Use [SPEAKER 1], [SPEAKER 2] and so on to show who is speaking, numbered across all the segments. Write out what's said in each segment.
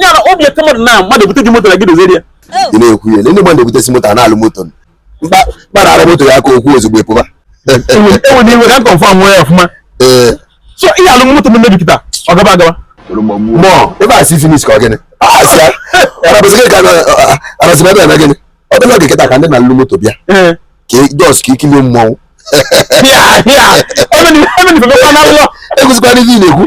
[SPEAKER 1] nyara obi eke mmadụ na mmadụ ebute gị moto na gị dozie ya ị na-ekwu ya ndị mmadụ ebutesi moto a na-alụ moto mkparara moto ya ka okwu ozugbo epụba enwere iwe ka m confirm nwee ya ọfụma ee so ihe alụ moto m mebi kịta ọ gaba agaba mọ ebe a si finish ka ọ gịnị arasị ebe eme gịnị ọ bụla oge kịta ka ndị na-alụ moto bịa ka just ka ikilie mmọnwụ egwuzikwana ife na-ekwu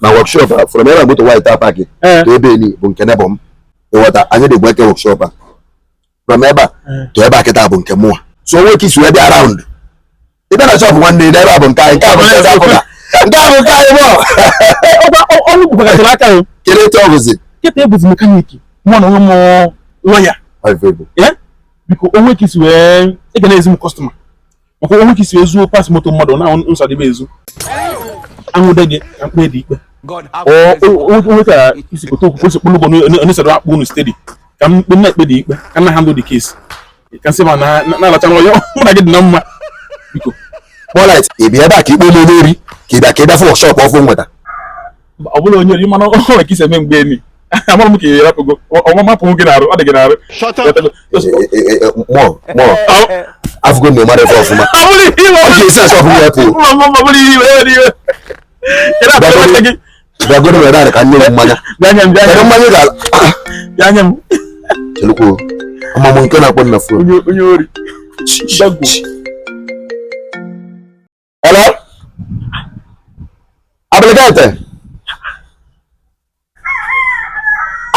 [SPEAKER 1] na workshop a from ebe moto white a park to ebe ni bụ nke neighbour m ị ghọta anyị dị two wee kee workshop a from ebe a to ebe a kịta bụ nke mụwa so o nwe ka e si wee bịa round ị bịa na shop nwanne na ebe a bụ nke anyị nke a bụ nke afọ na nke a bụ nke anyị mụọ ọrụ bụkwagaziri aka ya kere etu ọ bụzi kịta ebuzi mechanic mụọ na onwe m loyal because o nwe ka i si wee ị ga na-ezi m customer maka o nwe ka i si ezuo parts moto mmadụ na nsadebe ezu anwụde gị ka m kpee gị ikpe o nwe ka i si pụta okwukwe si kpụlụgbo n'esoro akpụ unu steady ka mkpe na-ekpe gị ikpe ka m na-handle the case ka nsị ma na-alacha na ọyọ mụ na gị dị na mma biko kpọlait ị bịa ebe a ka ikpe m n'ori ka ị bịa ka ị bịa fụ shop ọfụ nweta ọ bụla onye ori mana ọ nwere ka i si eme mgbe emi amara m ka ị rapụgo ọnwa mapụ gị n'arụ ọ dị gị n'arụ afụgo na ị mara ebe ọfụma ọ ga-esi asọ ọfụma ya pụọ bịagoro were narị ka nne m mmanya mmanya ga-ala chelukwuo amamụ nke na-akpọ m na phone Hello? Abịlịgete.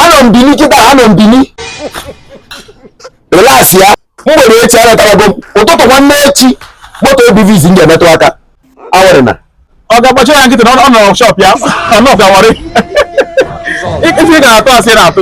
[SPEAKER 1] Anọ m Bini kịta, anọ m Bini. Relax ya. Mgbede echi anatarago m. Ụtụtụ nwanne echi, moto a bụ izizi m ga-emetụ aka. Aworryna. Ọ gaba achọ ya kịta ọ nọ shop ya. Na ọ ga Warri. Ife ị ga na-atụ asị na-atụ.